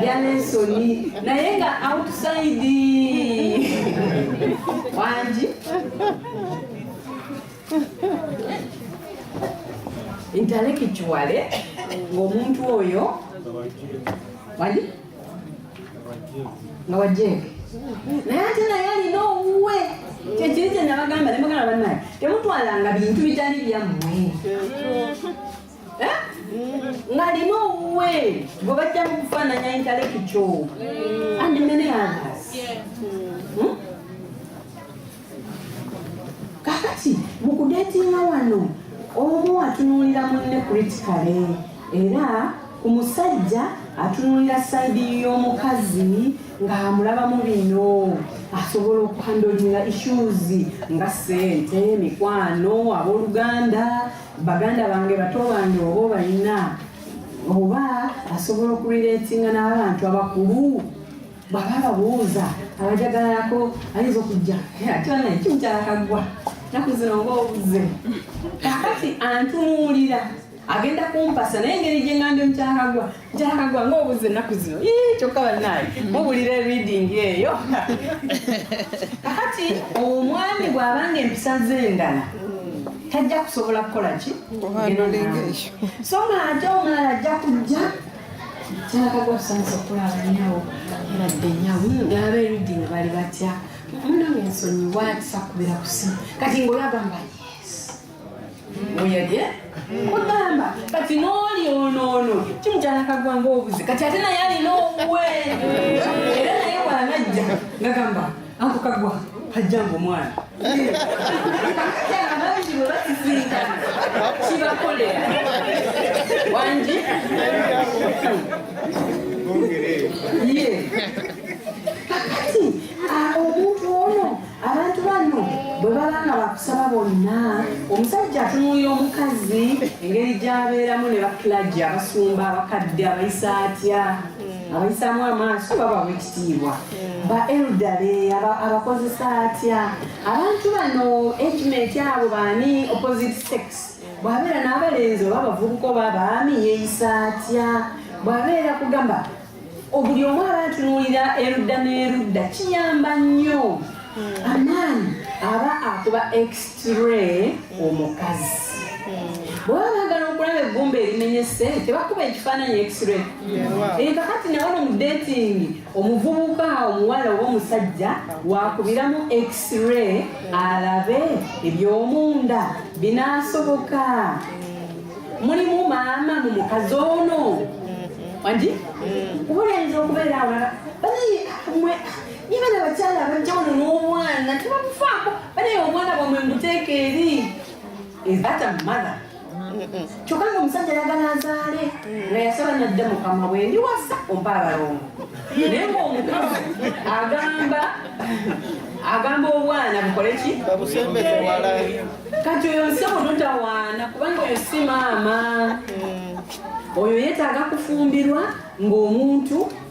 ya Nelson naye nga outside wangi intellectual ng'omuntu oyo wali nga wajjenge naye ate naye alina owuwe kyekiri kye nabagamba ne mugana bannaye temutwalanga bintu bitali byammwe eh? ngalina owuwe gwe bajja mu kufaananya intalekikyo andi mene others hmm? kakati mu kudeetinga wano omu atunuulira munne kritikale era ku musajja atunuulira sayidi y'omukazi ng'amulabamu bino asobola okuhandlinga issues nga sente mikwano abooluganda baganda bange bato bange oba obalina oba asobola okulireetinga n'abantu abakulu bw'aba ababuuza abajagalalako ayinza okujja ate banaye kimukyala kaggwa naku zino nga obuze kakati antunuulira agenda kumpasa naye engeri gye ngambye mukyala kaggwa mukyala kaggwa nga obuze naku zino kyokka banaye mubulira reading eyo kakati omwami bw'abanga empisa z'endala tajja kusobola kukola ki so nga ate omulala ajja kujja kyalakaga okusanyusa okukola abanyawo era dde nyawo ng'aba eruddi ne bali batya munange ensonyi waatisa kubira ku simu kati ng'olagamba yes oyadye kugamba kati n'oli onoono kimukyalakagwa ng'obuze kati ate naye alina owuwe era naye bwanajja ngagamba Anko kagwa hajjanga omwana abangi bwe bakisinkana kibakolera wangi ye kakati omuntu ono abantu bano bwe baba nga bakusaba bonna omusajja atunuulira omukazi engeri gyabeeramu ne bakilagi abasumba abakadde abayisaatya abayisaamu amaaso baba wekitiibwa hmm. ba eldale abakozesa atya abantu bano ejimenti abo baani opposite sex bwabeera n'abalenzi oba abavubuka oba abaami yeeyisa atya bwabeera kugamba obuli omu abatunuulira erudda n'erudda kiyamba nnyo hmm. amaani aba akuba ex Tire omukazi bwaba bagala okulaba eggumba erimenyese tebakuba ekifaananyi x-ray eka kati nabano mu datingi omuvubuka omuwala oba omusajja wakubiramu x-ray alabe ebyomunda binasoboka mulimu maama mu mukazi ono wandi kubulenzi okubeera awala banaye mwe Niba na bakyala abajjawulo n'omwana tebamufaako banaye omwana bwamwe muteeka eri ezata mumala kyokka nga omusajja yagala azaale nga yasaba nadda mukama bwe ndiwasa ompa abalongo naye ngaomukama agamba agamba obwana bukole ki kati oyo musebo totawaana kubanga oyo si maama mm. oyo yetaaga kufumbirwa ng'omuntu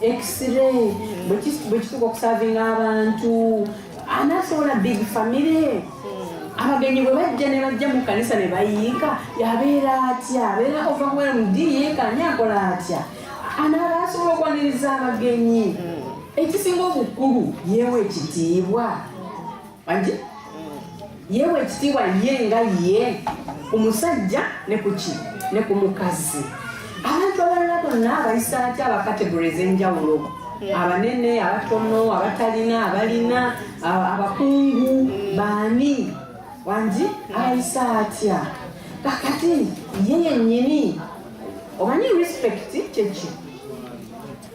x-ray bwekituka okusavinga abantu anasobola big family abagenyi bwe bajja ne bajja mu kanisa ne bayiika yabeera atya abeera overwhelmed yeekanya akola atya anaaba asobola okwaniriza abagenyi ekisinga obukulu yeewa ekitiibwa bangi yeewa ekitiibwa ye nga ye ku musajja ne ku ki ne ku mukazi abantu abalala bonna abayisa atya abakategori ez'enjawulo abanene abatono abatalina abalina abakungu baani wangi abayisa atya kakati ye yennyini omanyi respect kyeki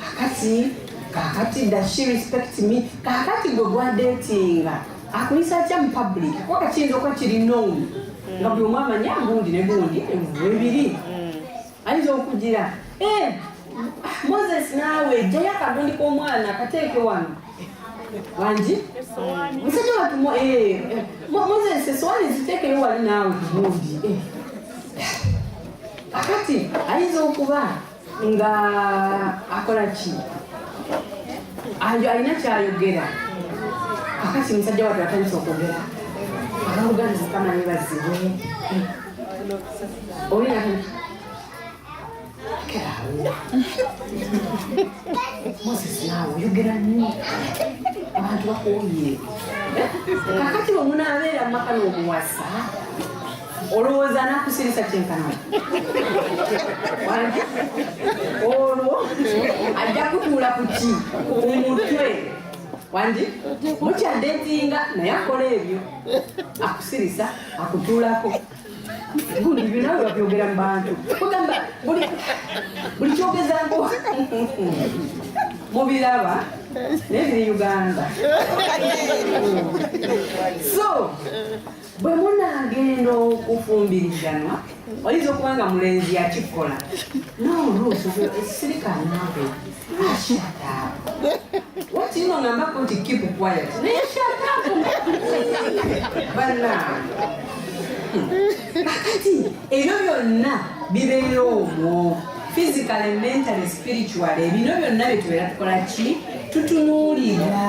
kakati kakati does she respect me kakati gwe gwadetinga akuyisa atya mu public kuba kakiyinza okuba kiri known nga buli omu amanya gundi ne gundi webiri mm. ayinza okugira eh, moses naawe jjayo akagundi k'omwana kateeke wano wangi musajja watu moses esowani ziteekeyo wali naawe gundi eh. kakati ayinza okuba nga akola ki alina kyayogera akati musajja watu atandisa okwogera ababuganizi kama nebazibu olina kerawo moses nawe oyogera nnyo abantu bakuwumire kakati omunaabeera mumaka n'omuwasa olowooza anakusirisa kyenkana olwo ajja kutuula ku ki ku mutwe wandi mukyadetinga naye akola ebyo akusirisa akutuulako gundi binawe babyogera mu bantu kugamba buli kyogezako mubiraba naye biri uganda so bwe munaagenda okufumbiriganwa oyinza okuba nga mulenzi yakikola noluusirikanabe wakirino ngambako nti keep quiet naye shataku banange kakati ebyo byonna bibeera omwo physically mentally spiritually bino byonna byetubeera tukola ki tutunuulira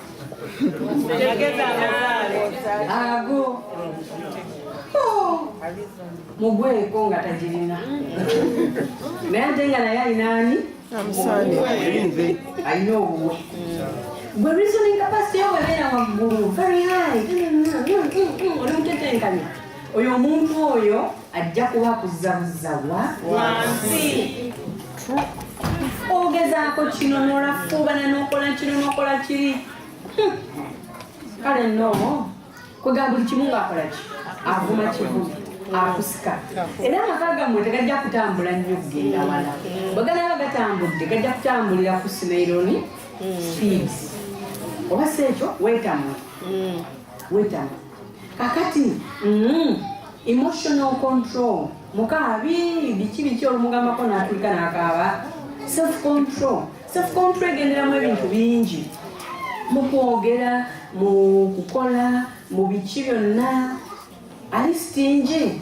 ago mugweko nga tagirina naye ate nga naye alinaani alina obuwe gwe reasoning capacity yo webeera waggulu very high oli mutetenkanya oyo omuntu oyo ajja kuba kuzabuzza wa wansi ogezaako kino nolafuubana nokola kino nokola kiri hmm. kale no kwegamba buli kimu ngaakola ki avuma kivumu akusika era amaka gammwe tegajja kutambula nnyo kugenda wala bweganaba gatambudde gajja kutambulira ku simaironi hmm. speeds oba si ekyo wetamwe hmm. wetamwe kakati mm, emotional control mukaabi biki biki olumugambako natulika nakaaba self control self control egenderamu ebintu bingi mukwogera mu kukola mu biki byonna ali sitingi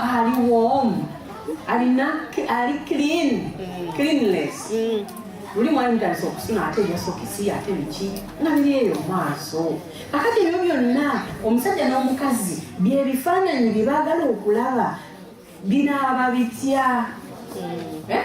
ali warm alina ali clean mm. cleanless mm. luli mwali mutandisa okusuna ate yasokisi ate biki nga biri eyo maaso akati ebyo byonna omusajja n'omukazi byebifaananyi bye baagala okulaba binaaba bitya mm. eh?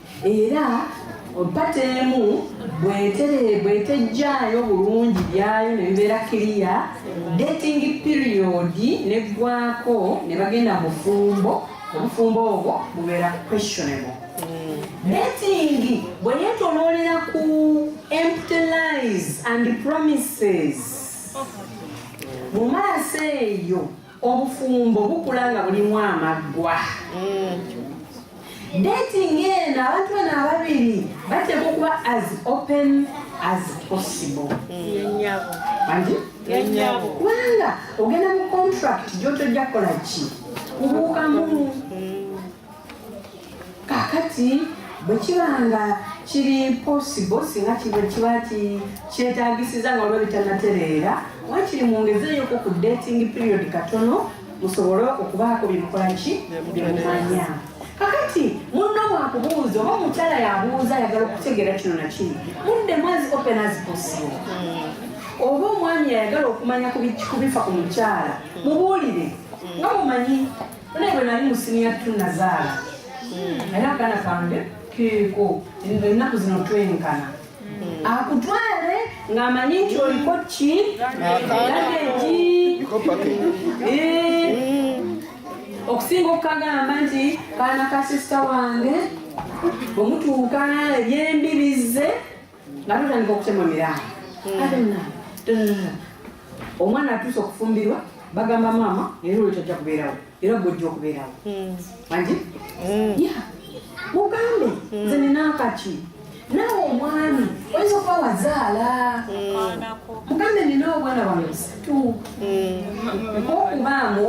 era ompata emu bwetejjaayo bulungi byayo ne bibeera kiriya dating period neggwako ne bagenda mufumbo obufumbo obwo bubeera questionable datingi bwe yetoloolera ku empty lies and promises mu maaso eyo obufumbo bukula nga bulimu amaggwa dating eno abantu bano ababiri bateekwa okuba as open as possible kubanga ogenda mu contract gyotojja kukola ki kubuukamu mm. kakati bwe kiba nga kiri posibo singa kiba kiba kyetagisiza nga olwo bitanatereera wakiri mwongezeeyoko ku dating period katono musobole okubaako byemukola ki byemumanya kakati munno wakubuuza oba omukyala yabuuza ayagala okutegeera kino nakiri mudde mwazi open as possible hmm. oba omwami ayagala okumanya kubifa ku mukyala mubuulire nga mumanyi Naye bwe nali mu siniya tu nazaala hmm. era akana kange keeko ennaku zino twenkana hmm. akutwale ng'amanyi nti oliko ki agenti eh. hmm. okusinga okukagamba nti kaana ka sisita wange omutuuka ebyembibizze nga tutandika okutema miraayi hmm. ate munange omwana atuuse okufumbirwa bagamba maama era olwo tajja kubeerawo era gwojja okubeerawo hmm. anti hmm. ya mugambe nze ninakaki naawe omwami oyinza okuba wazaala mugambe nina obwana bwange busatu okubaamu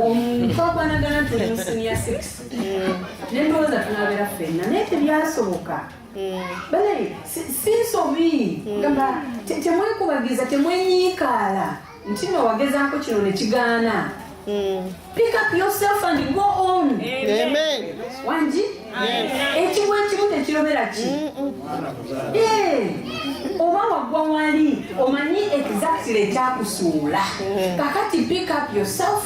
twakwanagana nti siniya six nendowooza tunabeera ffenna naye tebyasoboka Eh. banaye si nsobi eh. gamba temwekubagiza temwenyiikaala nti no wagezaako kino ne kigaana eh. pick up yourself and go on wangi ekimu ekimu tekirobera ki mm, mm. oba waggwa wali omanyi exactly ekyakusuula kakati pick up yourself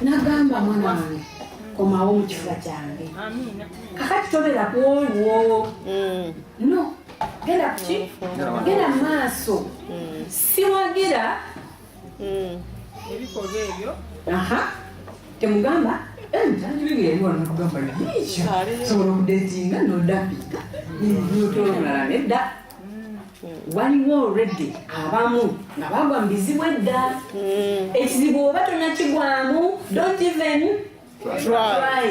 nagamba mwana wange komawo mu kifuba kyange kakati tobera ku olwo mm. no genda kuki genda mu maaso mm. siwagira mm. ebikolwa ebyo aha temugamba mutandibigeyewanakugambasobola okudetinga nodapiga notolomulala nedda waliwo olredde abamu nga bagwa mu bizibu edda hmm. ekizibu oba tonakigwamu don't even try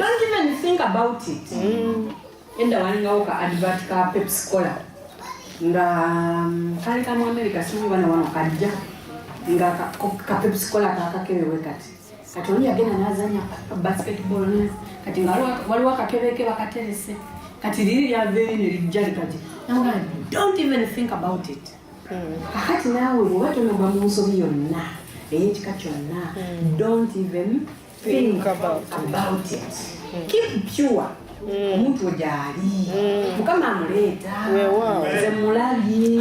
don't even think about it hmm. edda walingawo ka advert ka pepsicola nga mm, kali kamu amerika simu bana wano kajja nga ka pepsicola kakakebe wekati kati oli yagenda nazanya basketball ne kati nga waliwo akakebeke bakaterese kati liri lyaveeri ne lijja likati naga don't even think about it hmm. kakati naawe bwoba tonogwa mu nsobi yonna eyekika kyonna hmm. don't even think about it hmm. keep pure omuntu we gyali mukama amuleeta nze mulabye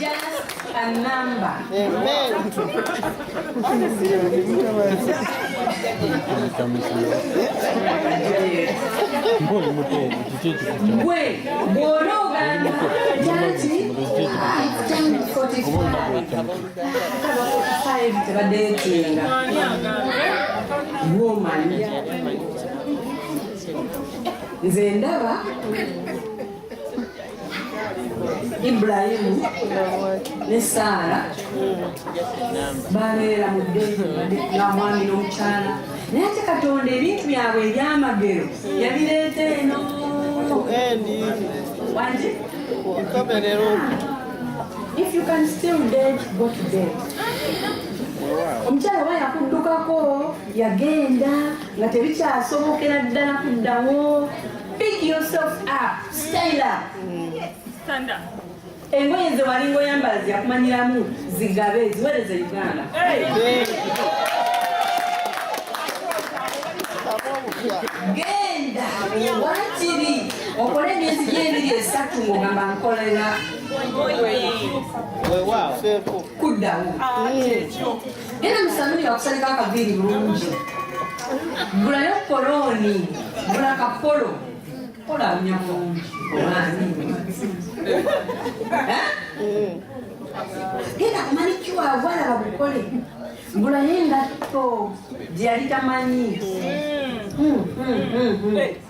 Just a number. Amen. Gwe bw'oba ogamba nti tebadeetinga woman nze ndaba Ibulayimu ne Saara babeera mu ddembe nga mwami n'omukyala naye ate Katonda ebintu byabwe ebyamagero yabireeta eno wangi if you can still dead go to dead omukyala oba yakuddukako yagenda nga tebikyasobokera ddala kuddawo Big yourself up. Stand up. Yes, stand up. Engoye nze walinga oyambala ziyakumanyiramu zigabe ziwereze Uganda. Genda wakiri okole emyezi gy'ebiri esatu ng'ogamba nkolera kuddawo. Ah, Era musanuli wakusalika akaviiri bulungi. Gulayo kolooni, gula kapolo. Kola nya bulungi. Obaani. Eh? Genda kumani kiwa wala bakukole. Gulayo engatto gyeyali tamanyi. Mm. Mm, mm, mm, mm.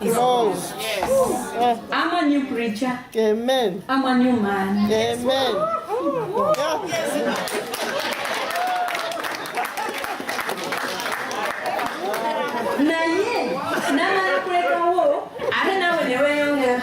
Yes. Yes. I'm a new preacher. Amen. I'm a new man. Amen. Naye namala kulekawo ate nawe ne weeyongera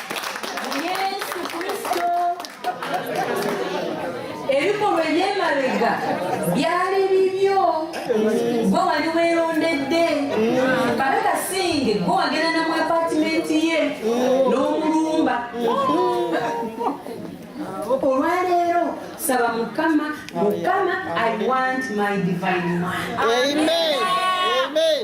Yesu Kristo. Ebikolwa eby'emabega byali bibyo, gwe wali weerondedde kabaka singe, gwe wagenda na mu apatimenti ye n'omulumba. Olwaleero saba Mukama, Mukama, I want my divine man. Amen. Amen.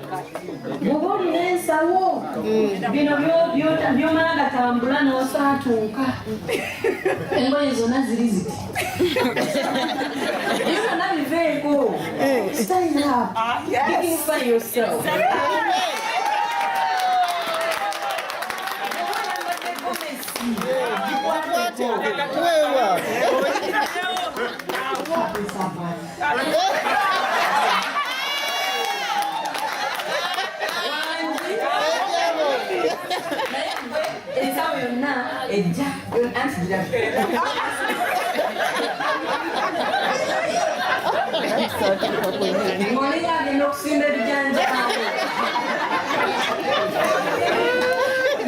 bwoba olina ensawo mm. bino byomala gatambula nosaatuuka engoye zona ziri ziti byona biveeko eh. style up ah, dignify yourself Wewe ensawo yonna ejja anti ngolera agenda okusimba ebijanja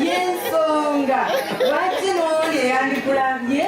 yensonga lwaki nooli eyandikulambye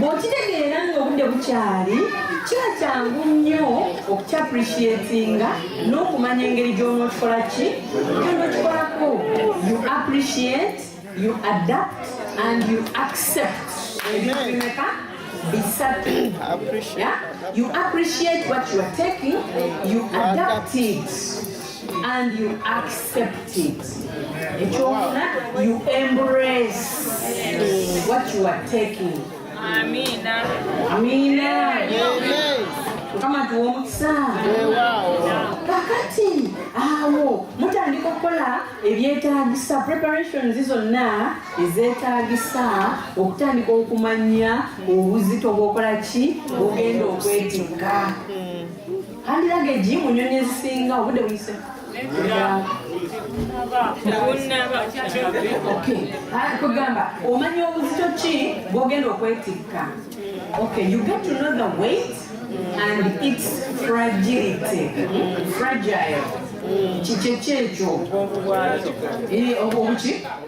bw'okitegeera ng'obudde bukyali kiba kyangu nnyo okukyapreciatinga n'okumanya engeri gy'onookikola ki gyonookikolako you appreciate you adapt and you accept ebintumeka bisatu you appreciate what you are taking you adapt it and you accept it ekyokuna you embrace what you are taking amina amina mukama tuwa omukisa kakati awo mutandika okukola ebyetagisa preparations zonna ezetagisa okutandika okumanya obuzito bwokola ki bwogenda okwetikka Handiraga egi mu nyonyi ezisinga obudde buyise. kugamba omanya obuzito ki bwogenda okwetikka okay you get to know the weight and its fragility fragile kikyekyo ekyo obuki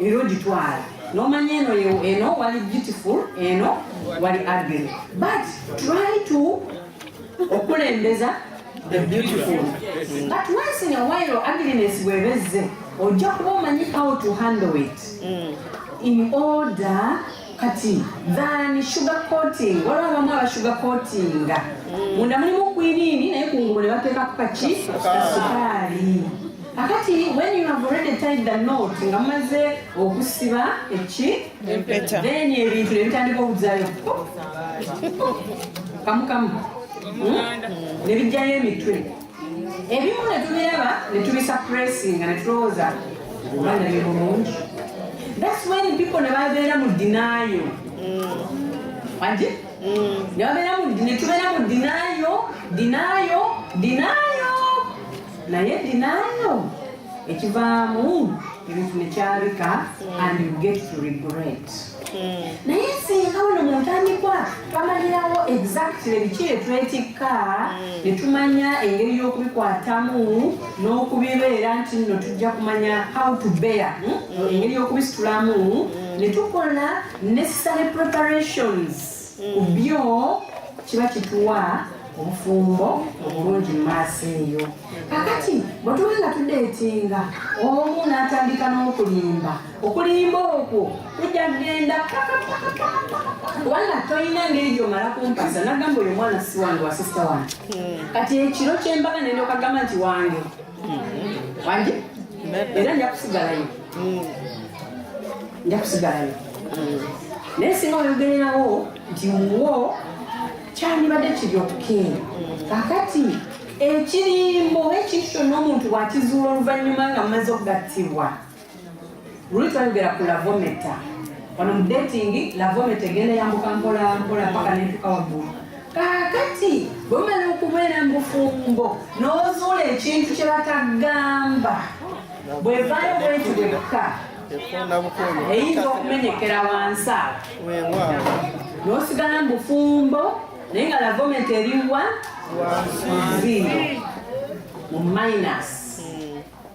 era ogitwala nomanya eno eno wali beautiful eno wali ugly but try to okulembeza the beautiful but once in a while ugliness bwebezze ojja kuba omanyi how to handle it mm. in order kati than sugar coating waliwo abamu aba sugar coatinga mm. munda mulimu kwiniini naye kungulu ne bateekako kaki sukaali kakati when you have already tied the note nga mumaze okusiba eki then ebintu nebitandika okuzayo kamukamu hmm? nebijjayo emitwe ebimu ne tubiraba ne tubisapuresinga ne tulowooza obana bye bulungi thats when people ne babeera mu dinayo wagi ne babeera ne tubeera mu dinayo dinayo dinayo naye dinayo ekivaamu ebintu ne kyabika and you get to regret hmm. naye singa wano mu ntandikwa twamanyirawo exactly biki etwetikka hmm. ne tumanya engeri y'okubikwatamu n'okubibeera nti nno tujja kumanya how to bear hmm? engeri y'okubisitulamu ne tukola necessary preparations ku byo kiba kituwa obufumbo obulungi mu maaso eyo kakati bwe tuba nga tudeetinga omu n'atandika n'okulimba okulimba okwo kujja kugenda wala tolina ngeri gyomala kumpasa nagamba oyo omwana si wange wasisita wange hmm. kati ekiro kyembaga nendokagamba nti wange wange era nja kusigalayo nja kusigalayo naye singa oyogererawo nti muwo kyandibadde kiri okukinga kakati ekirimbo ekintu kyonna omuntu wakizuula oluvannyuma nga mumaze okugattibwa Ruth ayogera ku lavometa wano mu dating lavometa egenda yambuka mpola mpola mpaka nentuka waggulu kaakati bwemala okubeera mu bufumbo n'ozuula ekintu kye batagamba bwevaayo bwenti bwekka eyinza okumenyekera wansi awo n'osigala mu bufumbo naye nga lavometa eriwa wansi mu minus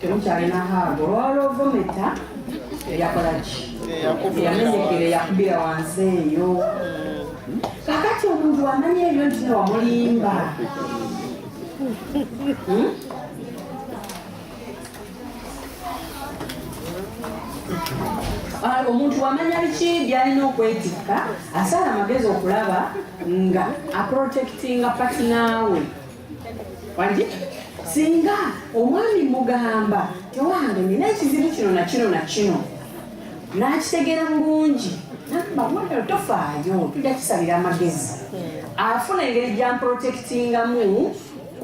temukyalina haago olwawula ovometa eyakolaki eyamenyekere yakubira wansi eyo kakati omuntu wamanya ebyo nti newamulimba hmm? ah, omuntu wamanya biki byalina okwetikka asaala amagezi okulaba nga aprotectinga patinaawe wangi singa omwami mugamba tewange nina ekizibu kino nakino nakino nakitegeera bulungi nabawagalo tofaayo tujja kisalira amagezi afuna engeri gyamprotektingamu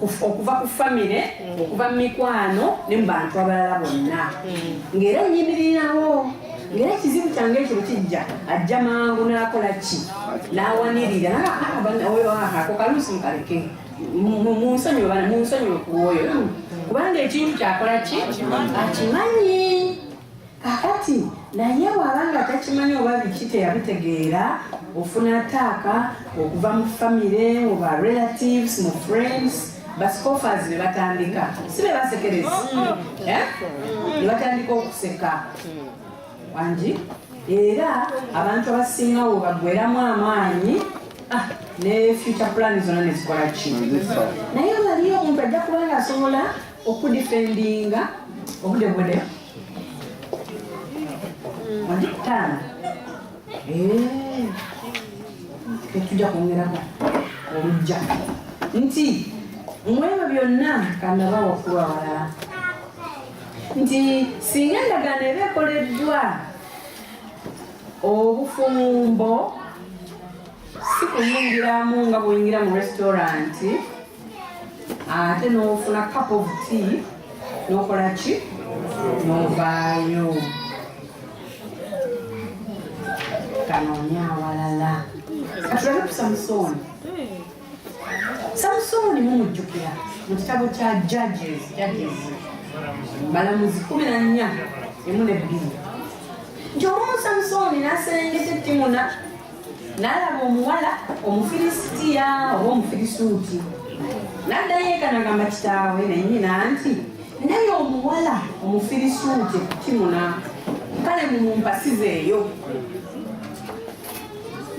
okuva ku famire okuva mu mikwano ne mu bantu abalala bonna ngaera onyimirirawo ngera ekizibu kyange ekyo kijja ajja mangu n'akola ki n'awanirira ako kaluusi mukaleke munsonyiwe bana munsonyiwe ku oyo kubanga ekintu kyakola ki akimanyi kakati naye waba nga takimanyi oba biki teyabitegeera ofuna taaka okuva mu famire mu ba relatives mu friends basikofazi nebatandika si bebasekereza eh? nebatandika okuseka wangi era abantu abasinga wo bagweramu amaanyi ah, ne future plan zona nezikola ki naye waliyo omuntu ajja kuba nga asobola okudifendinga obude bude wagitaano Eh, tetujja kwongerako olujja nti mwebyo byonna kanaba wakulu awalala nti singa endagaano eba ekoleddwa obufumbo si kuyingiramu nga buyingira mu restauranti ate n'ofuna cup of tea n'okola ki n'ovaayo kanoonya awalala katulabe ku samusooni samusooni mumujjukira mu kitabo kya judges judges balamuzi kumi na nnya emu ne bbiri nti omu samusooni n'aserengeta ettimuna n'alaba omuwala omufilisitiya oba omufirisuuti n'addayo eka nagamba kitaawe naye nyina nti naye omuwala omufirisuuti kimuna kale mumumpasizeeyo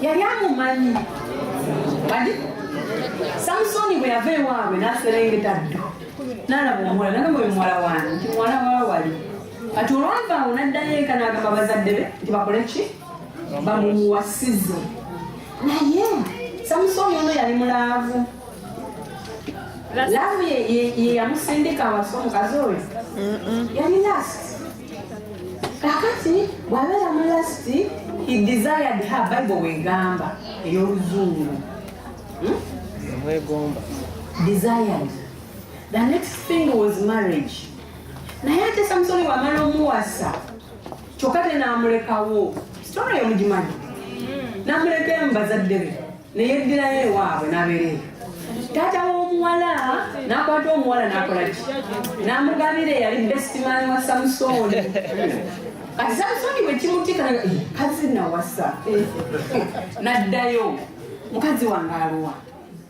yali amumanyi kati samusoni bwe yava ewaabwe n'aserengeta ddu n'alaba omuwala nagamba oyo muwala wange nti muwala wawali kati olwavaawo n'addayo eka n'agamba bazadde be nti bakole ki bamumuwasize naye samusoni ono yali mulaavu laavu yeyamusindika awasa omukazi oyo yali last kakati bwabeera mu last he desired her bible wegamba ey'oluzungu hmm? mwegomba desired the next thing was marriage naye ate samusoni wamala omuwasa kyokka te n'amulekawo sitona yo mugimanyi mm. n'amuleka emu bazadde be neyeddirayo ewaabwe n'abeereeyo taata w'omuwala n'akwata omuwala n'akola ki n'amugabira eyali besitimani wa samusooni kati samusooni bwe kimutika eh, kazi nawasa eh, naddayo mukazi wange aluwa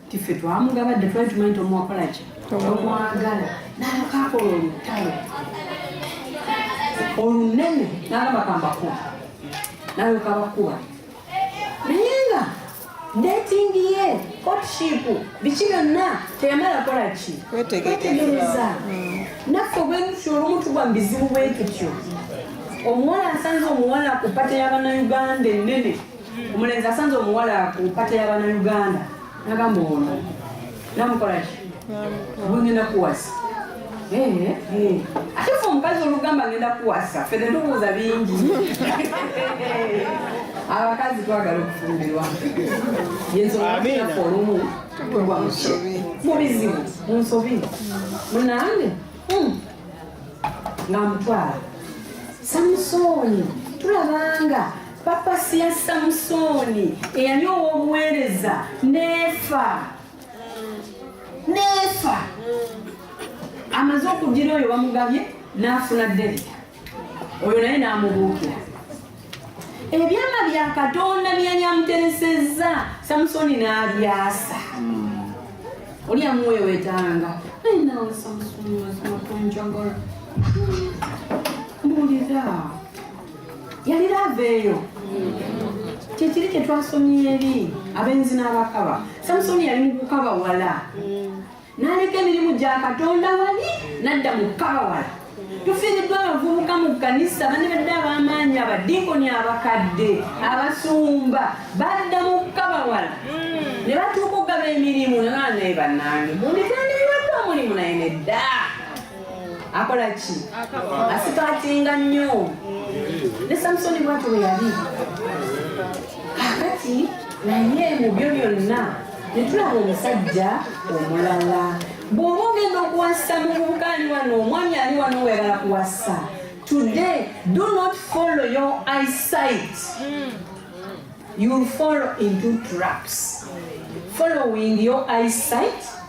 nti ffe twamugabadde twali tumanyi nti omuwakola ki omwagala nakakola olutalo olunene nalabakambako nayokabakuba naye nga dating ye courtship biki byonna teyamala kola ki kwetegereza hmm. naffe obwentutyo olumu tugwa mu bizibu bwentutyo omuwala asanze omuwala ku pate y'abanauganda ennene omulenzi asanze omuwala ku mpata ya banauganda nagamba ono namukolaki bungenda kuwasa ate fe omukazi olugamba ngenda kuwasa fe netubuuza bingi abakazi twagala okufumbirwa yensongafe olumu tugwa mubizibu munsobi munange hmm. nga mutwala samusooni tulabanga Papasi ya Samusooni eyali ow'obuweereza n'efa n'efa amaze okugira oyo bamugabye n'afuna Derita oyo naye n'amubuukira ebyama bya katonda byeyali amuteresezza samusooni n'abyasa hmm. oli amuwewetanga naye nawe samusooni mazima kunjagala hmm. mbuulira yali laava eyo kyekiri kyetwasomye eri abenzi n'abakaba samusoni yali mukukaba wala naleka emirimu gya katonda wali nadda mukukaba wala tufiiriddwa abavubuka mu kkanisa banebadde ab'amaanyi abadinkoni abakadde abasumba badda mu kukaba wala ne batuuka okugaba emirimu nanaye bannange munditandikiraddwa omulimu naye nedda akola ki asikatinga nnyo ne samusoni bwati we yali kakati naye mu byo byonna netulaba omusajja omulala bw'oba ogenda okuwasa mu bubuka ali wano omwami ali wano weyagala kuwasa today do not follow your eyesight you follow into traps following your eyesight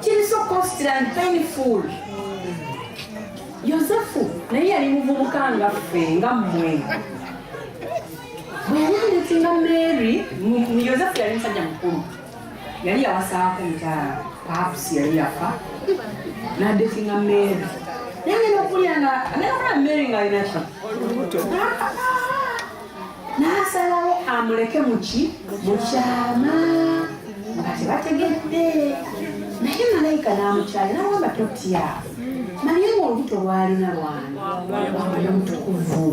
kiri so costly and painful yosefu naye yali muvubuka nga ffe nga mmwe bweyamuletinga mary yosefu yali musajja mukulu yali yawasaako mukyala paps yali yafa nadetinga mary naye ngenda okuwulira nga agenda kulaba mary nga alina ki n'asalawo amuleke muki mu kyama nga tebategedde naye malayika n'amukyali nawamba totya naye ng'olubuto lwalina lwana wamanya mutukuvu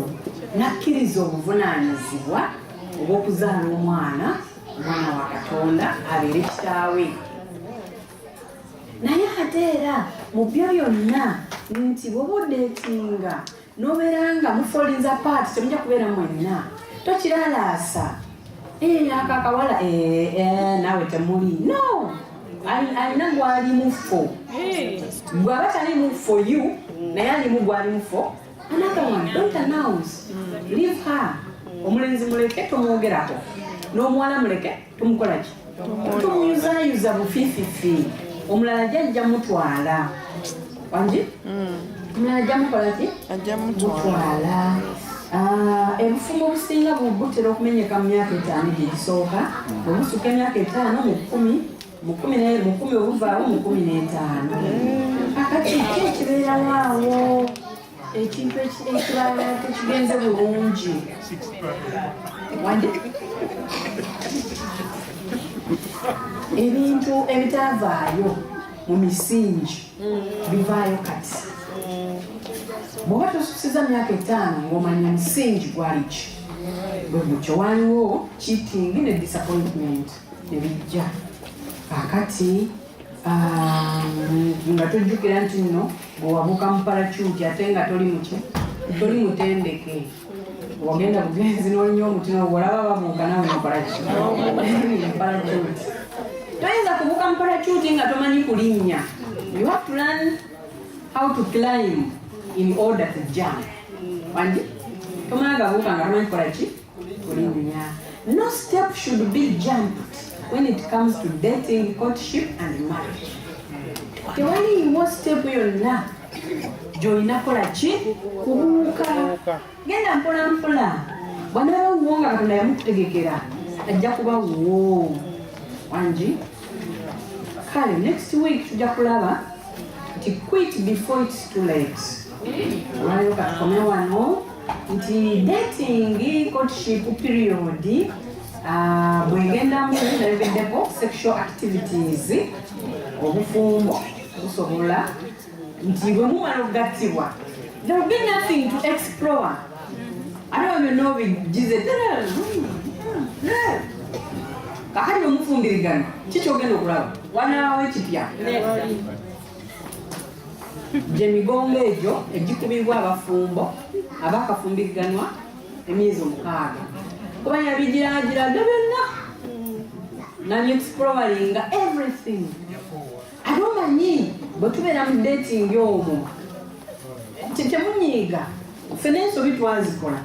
n'akkiriza obuvunaanyizibwa obw'okuzaala omwana omwana wa katonda abeere kitaawe naye ate era mu byo byonna nti bwoba odeetinga nobeera nga mufolinza paati temujja kubeera mwenna tokiralaasa ako akawala naawe temuli no alina gwali mufo bwaba tali mufo you naye alimu gwali mufo another one don't announce leave her omulenzi muleke tomwogerako n'omuwala muleke tumukola ki tumuyuzayuza bufififi omulala jajja mutwala wangi mm. omulala ajja mukola ki ajja mutwala Ah, ebufumu obusinga butera okumenyeka mu myaka etaano gyegisooka obusuka emyaka etaano mu kumi mu kumi obuvaawo mu kumi n'etaano akati ki ekibeerawo awo ekintu ekirala tekigenze bulungi ebintu ebitavaayo mu misingi bivaayo kati bwoba tosusiza myaka etaano ngaomanya musingi gwaliki bwegutyo waliwo cheating ne disappointment nebijja kakati Ah, nga tujjukira nti nno bwewabuka mupalacuuti ate nga toli muki toli mutendeke wagenda bugenzi nolinya omuti nowolaba babuuka nawe mupalacuuti toyinza kubuka mupalacuuti nga tomanyi kulinnya you have to learn how to climb in order to jump wandi tomala gabuuka nga tomanyi kukola ki No step should be jumped when it comes to dating, courtship and marriage. Tewaliiwo step yonna gy'olina kola ki kubuuka. Genda mpola mpola. Bwanaaba wuwo nga Katonda yamukutegekera ajja kuba wuwo. Wangi. Kale next week tujja kulaba nti quit before it's too late. Olwaleero katukomewano. nti dating courtship period ah, bwegendamu nebeddeko sexual activities obufumbo busobola nti bwe mumala okugattibwa there will be nothing to explore ate wa byonna obigize kakati bwe mufumbirigana kikyogenda okulaba wanaawo ekipya gye migongo egyo egikubibwa abafumbo abakafumbiriganwa emyezi omukaaga kuba yabigiragiraga byonna nabyeexploringa everything ate omanyi bwe tubeera mu dating omwo tetemunyiiga ffe nensobi twazikola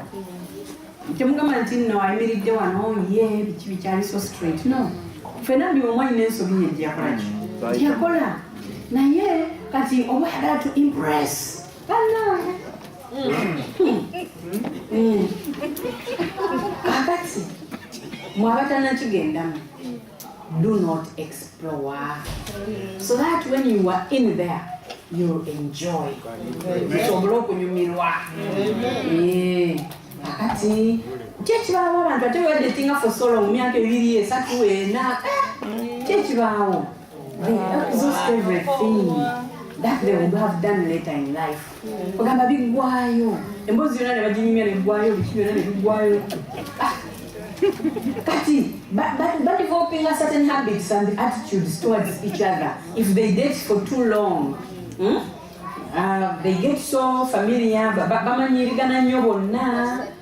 temugamba nti nno ayimiridde wano ye biki bikyali so straight no fena buli omu alina ensobi ye gyeyakolaki gyeyakola naye kati oba yagala to impress banange kakati mwabatanakigendamu do not explore so that when you are in there you enjoy osobola okunyumirwa eh, akati kyekibaawo abantu ate wedetinga for so long myaka ebiri esatu ena eh, kyekibaawo they exhaust everything that they would have done later in life ogamba biggwayo emboozi yona nebaginyumya neggwayo biki byona nebiggwayo ah. kati badevelopinga certain habits and attitudes towards each other if they date for too long hmm? uh, they get so familiar bamanyirigana nnyo bonna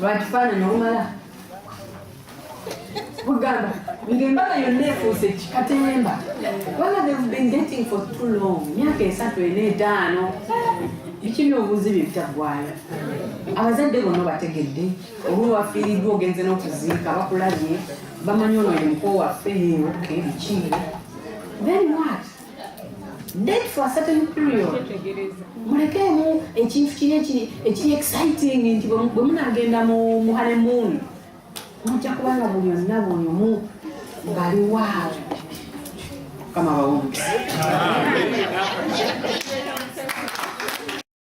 lwakifaananyi olumala ogamba ng'embaga yonna efuuse kikatemba wala they've been dating for too long myaka esatu ena etaano biki byobuuzi bye bitaggwayo abazadde bonna bategedde oba wafiiriddwa ogenze n'okuziika bakulabye bamanyi ono ye mukoo waffe yeyoke biki then what date for a certain period mulekeemu ekintu kiri ekiri exciting nti bwe munagenda mu honeymoon mujja kubanga buli onna buli omu ng'ali waawo kama bawumbi